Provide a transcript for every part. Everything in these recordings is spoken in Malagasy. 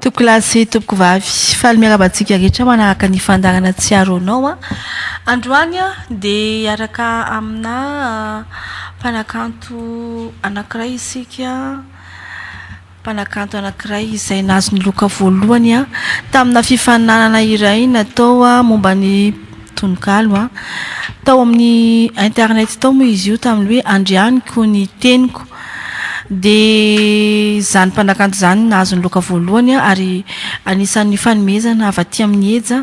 Tompoko lahy sy tompoko vavy, faly miarahaba antsika rehetra manaraka ny fandaharana Tsiaro Anao an! Androany dia hiaraka aminà mpanakanto anankiray isika, mpanakanto anankiray izay nahazo ny loka voalohany taminà fifaninanana iray natao momba ny Tononkalo an. Tao amin'ny internet tao moa izy io tamin'ny hoe Andrianiko ny teniko. Dia izany mpanakanto izany no nahazo ny loka voalohany ary anisan'ny fanomezana avy aty amin'ny Eja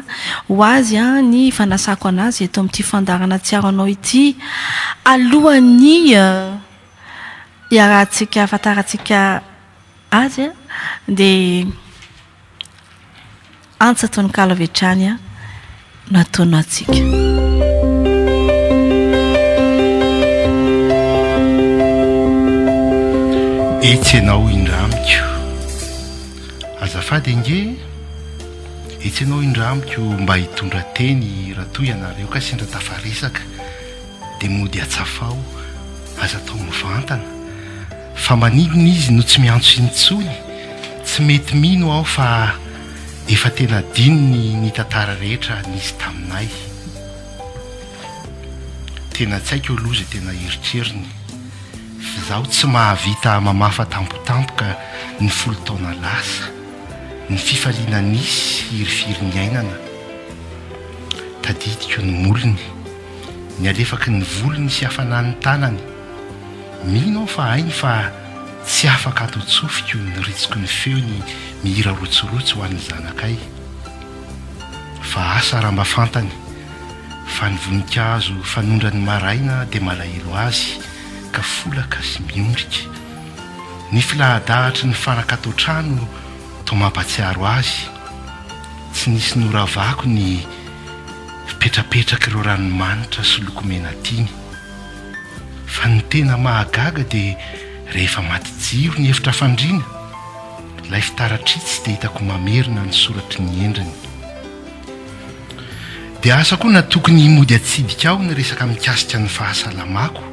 ho azy ny fanasako an'azy eto amin'ity fandaharana Tsiaro Anao ity alohan'ny hiarahantsika, hahafantarantsika azy dia. Antsa tononkalo avy hatrany no atonontsika. Etsy ianao indra amiko Azafady ange Etsy ianao indra amiko Mba hitondra teny Raha toa ianareo kay sendra tafaresaka dia mody atsafaho, aza atao mivantana, fa maninona izy no tsy miantso intsony? Tsy mety mino aho fa efa tena adinony ny tantara rehetra nisy taminay. Tena tsy haiko aloha izay tena eritreriny, f'izaho tsy mahavita mamafa tampotampoka ny folo taona lasa, ny fifaliana nisy hirifiry niainana. Tadidiko ny molony. ny alefaky ny volony sy hafanan'ny tanany. Mino aho fa hainy fa tsy afaka ato an-tsofiko ny ritsiky ny feony mihira rotsirotsy ho an'ny zanakay. Fa asa raha mba fantany fa ny voninkazo fanondrany maraina dia malahelo azy ka folaka sy miondrika. Ny filaha-dahatry ny fanaka ato an-trano toa mampatsiaro azy. Tsy nisy noravako ny. Fipetrapetrak'ireo ranomanitra sy loko mena tiany. Fa ny tena mahagaga dia rehefa maty jiro ny efitra fandriana, ilay fitaratr'itsy dia hitako mamerina ny soratry ny endriny. Dia asa koa na tokony himody atsidika ao ny resaka mikasika ny fahasalamako,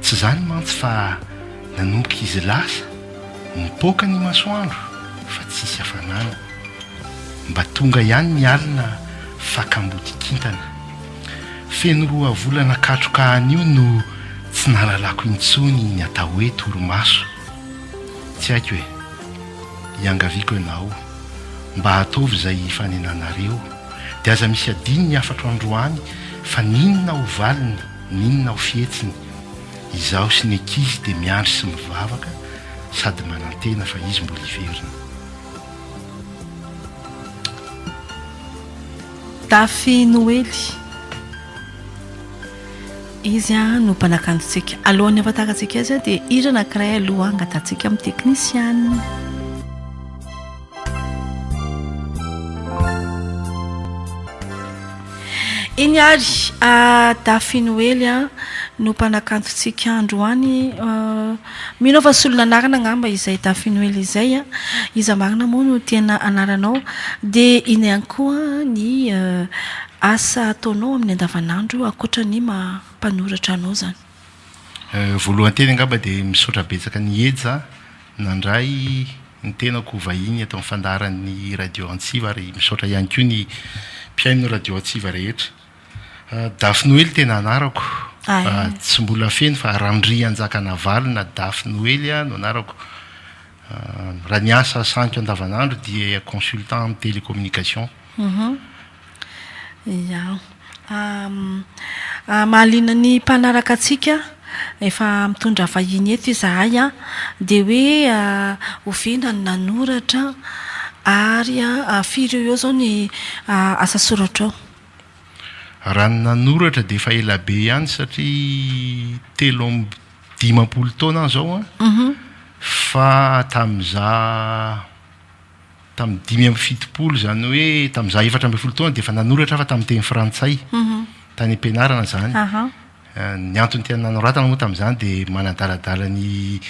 tsy izany mantsy fa nanomboka izy lasa, nipoaka ny masoandro fa tsisy hafanana. Mba tonga ihany ny alina fa kamboty kintana. Feno roa volana katroka anio no tsy nahalalako intsony ny atao hoe torimaso. Tsy haiko e. Iangaviako anao mba ataovy izay hifanenanareo dia aza misy adino ny hafatro androany fa n'inona ho valiny n'inona ho fihetsiny, izaho sy ny ankizy dia miandry sy mivavaka sady manantena fa izy mbola hiverina. Dafy Noely, izy no mpanakantontsika. Alohan'ny hahafantarantsika azy dia hira anankiray aloha angatahantsika amin'ny teknisiana. Iny ary Dafy Noely no mpanakantontsika androany. Mino fa solon'anarana angamba izay Dafinoely izay a! Iza marina moa no tena anaranao? Dia ino ihany koa ny asa ataonao amin'ny andavanandro ankoatra ny maha mpanoratra anao izany? Voalohany teny angamba dia misaotra betsaka an'i Heja nandray ny tenako ho vahiny eto amin'ny fandaharan'ny Radio Antsiva ary misaotra ihany koa ny mpihaino ny Radio Antsiva rehetra. Dafy Noely tena anarako, tsy mbola feno fa Randrianjakanavalo na Dafy Noely aho no anarako. Raha ny asa sahaniko andavanandro dia consultant amin'ny télécommunication. Ia. Mahaliana ny mpanaraka antsika, efa mitondra vahiny eto izahay an, dia hoe oviana no nanoratra ary firy eo ho eo izao ny asa soratrao? Raha ny nanoratra dia efa ela be ihany satria telo amby dimampolo taona aho izao an, fa tamin'izaho tamin'ny dimy amby fitopolo izany hoe tamin'izaho efatra ambin'ny folo taona dia efa nanoratra aho fa tamin'ny teny frantsay, tany am-pianarana izany. Ny antony tena nanoratana moa tamin'izany dia manadaladala ny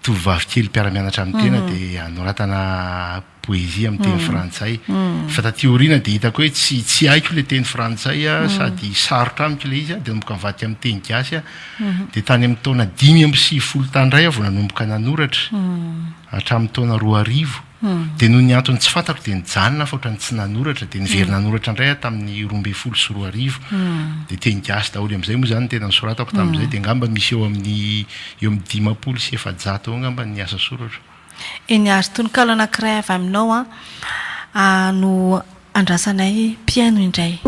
tovovavy kely mpiara-mianatra amin'ny tena dia hanoratana poezia amin'ny teny frantsay. Fa taty aoriana dia hitako hoe tsy tsy haiko ilay teny frantsay sady sarotra amiko ilay izy dia nanomboka nivadika amin'ny teny gasy aho. Dia tany amin'ny taona dimy amby sivifolo tany indray aho vao nanomboka nanoratra hatramin'ny taona roa arivo. Dia noho ny antony tsy fantako dia nijanona aho fa ohatran'ny tsy nanoratra, dia niverina nanoratra indray aho tamin'ny roa ambin'ny folo sy roa arivo, dia teny gasy daholo amin'izay moa izany ny tena nisoratako tamin'izay, dia angamba misy eo amin'ny eo amin'ny dimampolo sy efajato eo angamba ny asa soratro. Eny ary tononkalo anankiray avy aminao an, no Andrasanay mpihaino indray.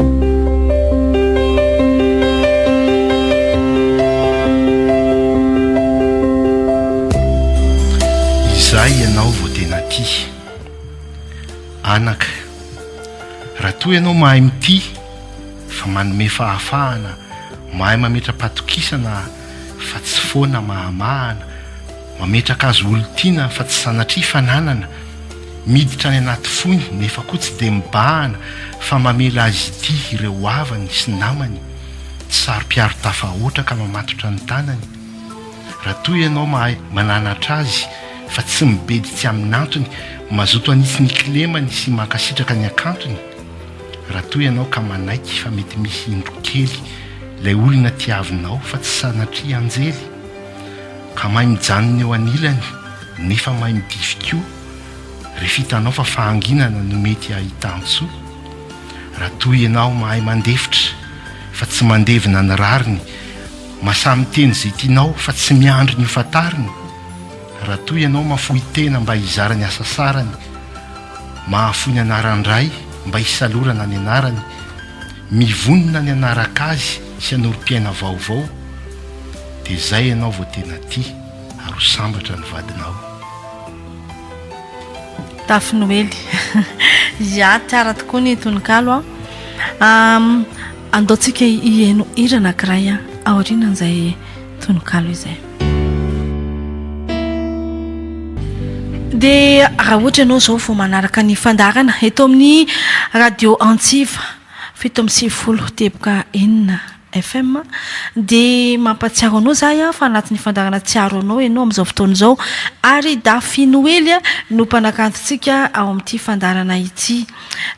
Izay ianao vao tena tia. Anaka, raha toa ianao mahay mitia fa manome fahafahana, mahay mametra-patokisana fa tsy foana mahamahana, Mametraka azy olon-tiana fa tsy sanatria fananana, miditra any anaty fony nefa koa tsy dia mibahana fa mamela azy ity ireo havany sy namany, tsy saro-piaro tafahoatra ka mamatotra ny tanany. Raha toa ianao mahay mananatra azy fa tsy mibedy tsy amin'antony, mazoto hanitsy ny kilemany sy mankasitraka ny hakantony. Raha toa ianao ka manaiky fa mety misy indro kely ilay olona tiavinao fa tsy sanatria anjely. Ka mahay mijanona eo anilany nefa mahay midify koa rehefa hitanao fa fahanginana no mety ahitan-tsoa. Raha toa ianao mahay mandefitra fa tsy mandevina ny rariny, masaha miteny izay tianao fa tsy miandry ny hofantariny, raha toa ianao mafoy tena mba hizara ny hasasarany, mahafoy ny anaran-dray mba hisalorana ny anarany, mivonona ny hanaraka azy sy hanorim-piaina vaovao dia zay ianao vao tena tia ary ho sambatra ny vadinao. Tafy Noely. Ya, tsara tokoa ny tononkalo an. Andaontsika hihaino hira anankiray aorianan'izay tononkalo izay. Dia raha ohatra ianao izao vao manaraka ny fandaharana eto amin'ny radio antsiva fito amby sivifolo teboka enina FM dia mampahatsiaro anao izaho aho fa anatin'ny fandaharana Tsiaro Anao ianao amin'izao fotoana izao ary Dafi Noely no mpanakanto antsika ao amin'ity fandaharana ity.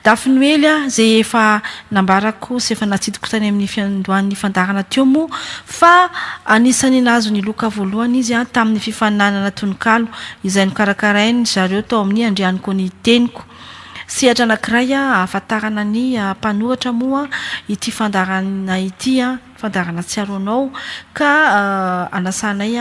Dafinoely a! Izay efa nambarako sy efa natsidiko tany amin'ny fiandohan'ny fandaharana teo moa fa anisan'ny nahazo ny loka voalohany izy tamin'ny fifaninanana tononkalo izay nokarakarain-dry zareo tao amin'ny Andrianiko ny Teniko. Sehatra anankiray ahafantarana ny mpanoratra moa ity fandaharana ity, fandaharana Tsiaro Anao, ka anasanay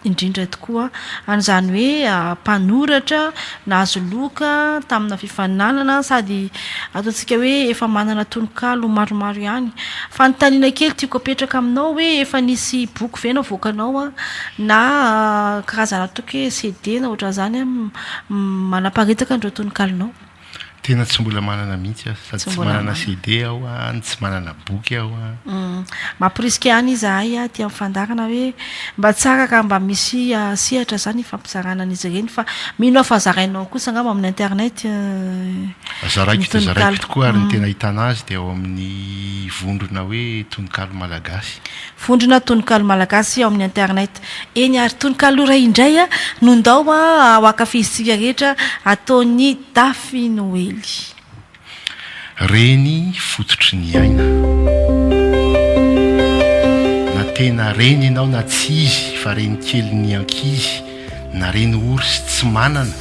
indrindra tokoa an, izany hoe mpanoratra nahazo loka tamina fifaninanana sady ataontsika hoe efa manana tononkalo maromaro ihany. Fanontaniana kely tiako apetraka aminao hoe efa nisy boky ve navoakanao an, na karazana toky hoe CD na ohatran'izany an, manaparitaka an'ireo tononkalonao? Tena tsy mbola manana mihitsy aho. Sady tsy manana CD aho an, tsy manana boky aho an. Mamporisika ihany izahay aty amin'ny fandaharana hoe mba tsara raha mba misy sehatra izany hifampizarana an'izy ireny fa mino aho fa zarainao kosa angamba amin'ny internet ny Zaraiko dia zaraiko tokoa ary ny tena ahitana azy dia ao amin'ny vondrona hoe Tononkalo Malagasy. Vondrona Tononkalo Malagasy ao amin'ny internet. Eny ary tononkalo iray indray no ndao ho ankafizintsika rehetra ataon'i Dafy Noely. Reny fototry ny aina. Na tena reny ianao na tsy izy fa reny kelin'ny ankizy na reny ory sy tsy manana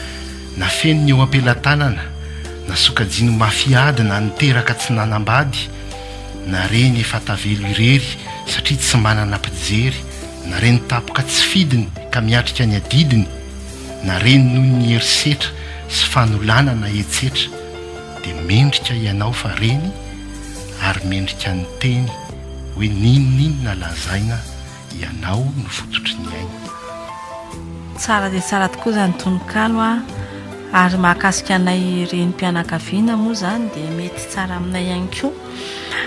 na feno ny eo am-pelatanana na sokajiany mafy ady na niteraka tsy nanambady na reny efa tavelo irery satria tsy manana mpijery na reny tapoka tsy fidiny ka miatrika ny adidiny, na reny noho ny herisetra sy fanolanana etsetra, dia mendrika ianao fa reny ary mendrika ny teny hoe n'inon'inona lazaina ianao no fototry ny aina. Tsara dia tsara tokoa izany tononkalo a! Ary mahakasika anay renim-pianakaviana moa izany dia mety tsara aminay ihany koa.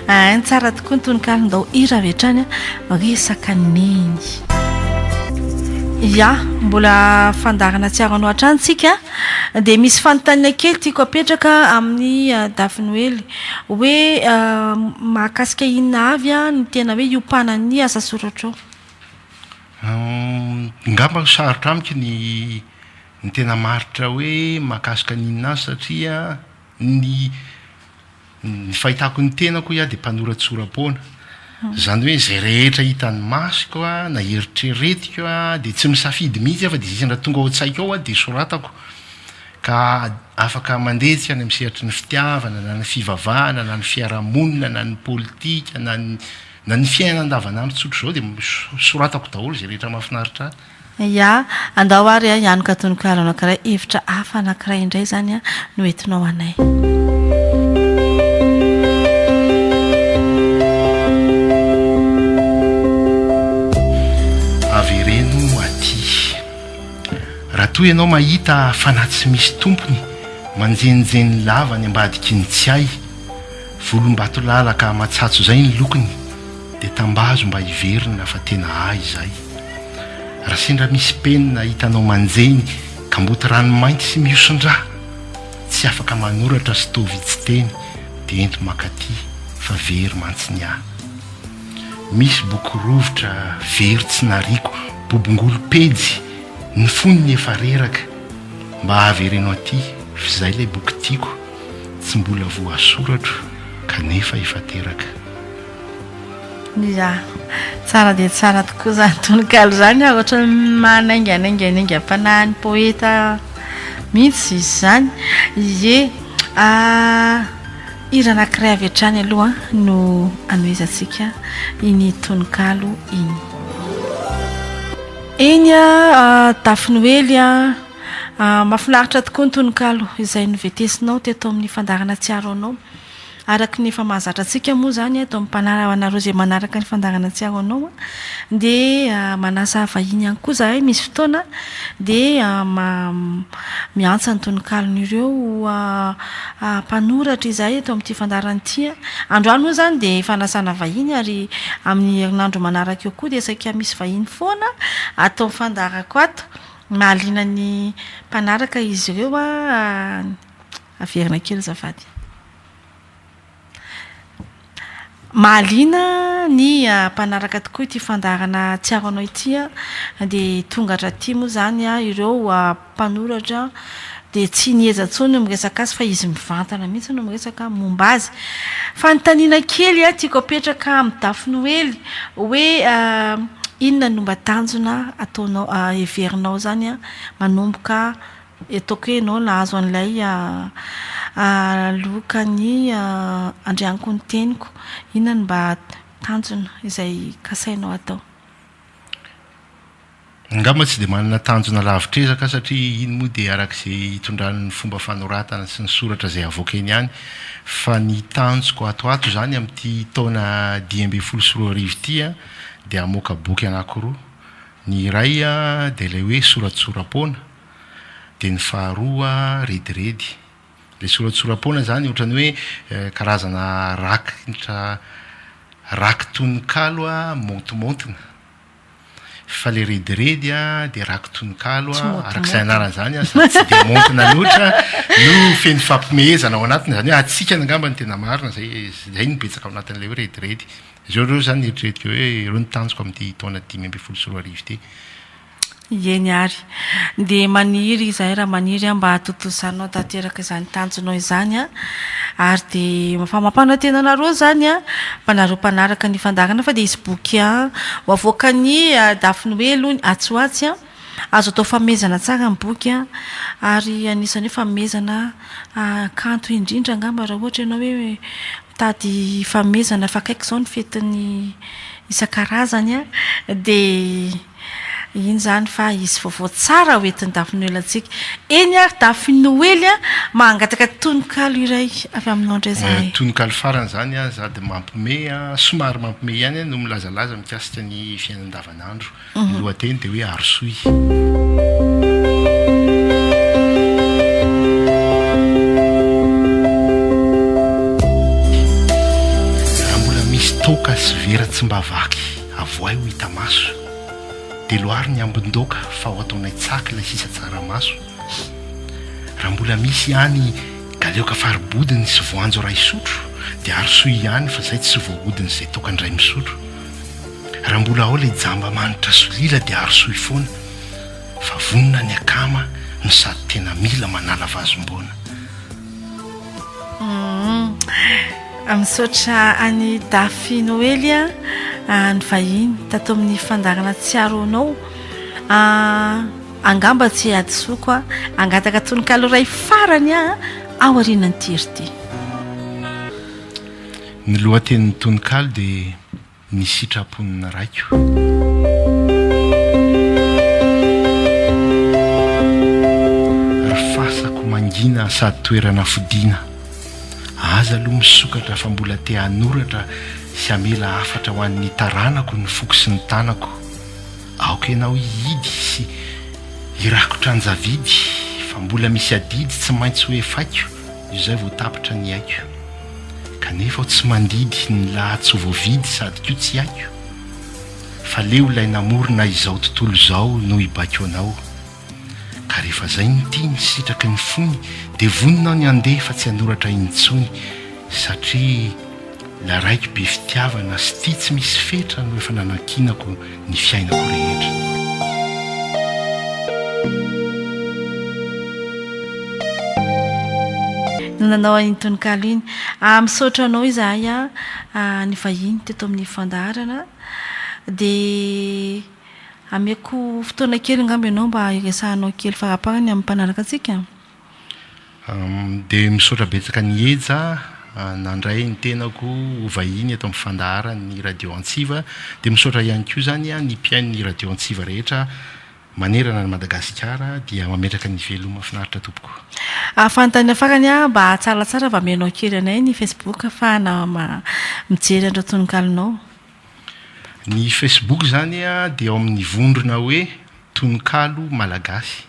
Ain tsara tokoa ny tononkalo ndao hira avy hatrany a resaka neny. Ya, mbola fandaharana tsy aranao hatrany tsika a, dia misy fanontaniana kely tiako apetraka amin'ny Dafy Noely hoe mahakasika inona avy a ny tena hoe iompanan'ny asa soratrao? Ngamba ho sarotra amiko ny ny tena maritra hoe mahakasika ny inona avy satria ny Ny fahitako ny tenako hoy aho dia mpanoratsora-poana. Izany hoe izay rehetra hitan'ny masoko na eritreretiko dia tsy misafidy mihitsy aho fa dia izay tonga ao an-tsaiko ao dia soratako. Ka afaka mandehitsika any amin'ny sehatry ny fitiavana na ny fivavahana na ny fiarahamonina na ny politika na ny na ny fiainana andavanandro tsotr'izao dia soratako daholo izay rehetra mahafinaritra ahy. Ya, andao ary hianoka tononkalo anankiray, hevitra hafa anankiray indray izany no entinao anay. toa ianao mahita fanahy tsy misy tompony manjenjeny lava ny ambadiky ny tsy hay volom-bato lalaka matsatso izay ny lokony dia tambazo mba hiverina fa tena ahy izay. Raha sendra misy penina hitanao manjeny, kamboty ranomainty sy mihoson-drà, tsy afaka manoratra sy toa vitsy teny dia ento makaty fa very mantsy ny ahy. Misy boky rovitra very tsy nariako bobongolo pejy ny fonony efa reraka, mba avereno aty f'izay ilay boky tiako tsy mbola voasoratro kanefa efa teraka. Iza? Tsara dia tsara tokoa izany tononkalo izany a, ohatran'ny manainganainga ny aingam-panahin'ny poeta mihitsy izy izany. Ie, hira anankiray avy hatrany aloha no hanohizantsika iny tononkalo iny. Eny a, Dafy Noely a, mahafinaritra tokoa ny tononkalo izay novetesinao teto amin'ny fandaharana Tsiaro Anao. Araka ny efa mahazatra antsika moa izany eto amin'ny Mpanara ho anareo izay manaraka ny fandaharana Tsiaro Anao dia manasa vahiny ihany koa izahay misy fotoana dia miantsa ny tononkalon'ireo mpanoratra izahay eto amin'ity fandaharana ity. Androany moa izany dia fanasana vahiny ary amin'ny herinandro manaraka eo koa dia saika misy vahiny foana ato amin'ny fandaharako ato. Mahaliana ny mpanaraka izy ireo. Averina kely azafady. Mahaliana ny mpanaraka tokoa ity fandaharana Hatsiaro Anao ity an! Dia tonga hatraty moa izany ireo mpanoratra dia tsy nieja intsony ny miresaka azy fa izy mivantana mihitsy no miresaka momba azy. Fanontaniana kely tiako apetraka amin'i Dafinoely hoe inona no mba tanjona ataonao heverinao izany manomboka Ataoko hoe ianao nahazo an'ilay lokan'ny andrianiko ny teniko. Inona no mba tanjona izay kasainao atao? Angamba tsy dia manana tanjona lavitr'ezaka aho satria iny moa dia araka izay itondran'ny fomba fanoratana sy ny soratra izay avoaka eny ihany. Fa ny tanjoko ato ho ato izany amin'ity taona dimy ambin'ny folo sy roa arivo ity an, dia hamoaka boky anankiroa. Ny iray dia ilay hoe Soratsora-poana, Dia ny faharoa rediredy. Ilay soratsora-poana izany ohatran'ny hoe karazana rakitra rakin-tononkalo maontimaontina. Fa ilay rediredy dia rakin-tononkalo araka izay anarany izany sady tsy dia maontina loatra no feno fampihomehezana ao anatiny. Izany hoe hatsikana angamba no tena marina, izay izay no betsaka ao anatin'ilay hoe rediredy. Izao ireo izany no eritreretiko hoe ireo no tanjoko amin'ity taona dimy ambin'ny folo sy roa arivo ity. Ieny ary. Dia maniry izahay raha maniry mba hahatontosanao tanteraka izany tanjonao izany ary dia famapana tena anareo izany fa nareo mpanaraka ny fandaharana fa dia hisy boky ho avoakan'i Daphnoe aloha ny atsy ho atsy. Azo atao famehezana tsara ny boky ary anisan'ny hoe famehezana kanto indrindra angamba raha ohatra ianao hoe mitady famehezana fa akaiky izao ny fetin'ny isan-karazany dia Iny izany fa hisy vaovao tsara ho entin'ny Dafinoelantsika. Eny ary Dafinoely a! Mangataka tononkalo iray avy aminao indray izahay. Tononkalo farany izany an, za dia mampme an, somary mampme ihany an, no milazalaza mikasika ny fiainana andavanandro. Ny lohateny dia hoe Arosoy. Raha mbola misy toaka sy vera tsy mba vaky. Avohay ho hita maso. Dia loary ny ambin-doaka fa ho ataonay tsaky ilay sisa tsaramaso. Raha mbola misy ihany galeoka fari-bodiny sy voanjo iray sotro dia arosoy ihany fa izay tsy voahodiny izay toaka indray misotro. Raha mbola ao ilay jamba manitra solila dia arosoy foana fa vonona ny akama no sady tena mila manala vazimboana. Misaotra an'i Dafy Noely nivahiny tato amin'ny fandaharana Tsiaro anao. Angamba tsy hadisoako hangataka tononkalo iray farany aho aorianan'ity hira ity. Ny lohatenin'ny tononkalo dia. ny sitrapon'ny Raiko. Ry fasako mangina sady toerana fodiana, aza aloha misokatra fa mbola te hanoratra sy hamela hafatra ho an'ny taranako ny foko sy ny tanako. Aoka ianao hihidy sy hirakotra an-javidy fa mbola misy adidy tsy maintsy ho efaiko izay vao tapitra ny aiko. Kanefa aho tsy mandidy ny laha tsy voavidy sady koa tsy haiko Fa leo ilay namorona izao tontolo izao no hibaiko anao Ka rehefa zay ny tiany sitraky ny fony Dia vonona aho ny handeha fa tsy hanoratra intsony Satria ilay raiky be fitiavana sy tia tsy misy fetra no efa nanankinako ny fiainako rehetra. No nanao an'iny tononkalo iny. Ah, misaotra anao izahay ah, nivahiny teto amin'ny fandaharana. Dia ameko fotoana kely angamba ianao mba hiresahanao kely faraparany amin'ny mpanaraka antsika? Dia misaotra betsaka an'i Heja nandray ny tenako ho vahiny eto amin'ny fandaharan'ny Radio Antsiva. Dia misaotra ihany koa izany ny mpihainon'ny Radio Antsiva rehetra manerana an'i Madagasikara. Dia mametraka ny veloma finaritra tompoko. Fanontaniana farany, mba atsaratsara fa amenao kely anay ny Facebook afahana mijery an'ireo tononkalonao. Ny Facebook izany dia ao amin'ny vondrona hoe Tononkalo Malagasy.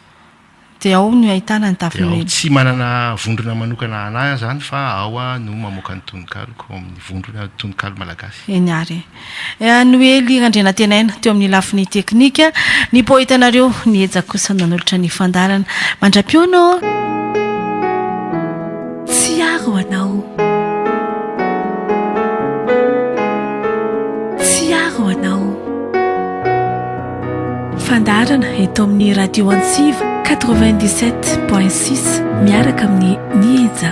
Dia ao no ahitana ny Dia ao tsy manana vondrona manokana hanahy izany fa ao aho no mamoaka ny tononkaloko ao amin'ny vondrona tononkalo malagasy. Eny ary e. Noely Randrianantenaina teo amin'ny lafiny teknika, ny poetanareo niheja kosa no nanolotra ny fandaharana. Mandra-pihaona ô! Tsiaro anao. Tsiaro anao. Fandaharana eto amin'ny Radio Antsiva 97.6 miaraka amin'ny Nihija.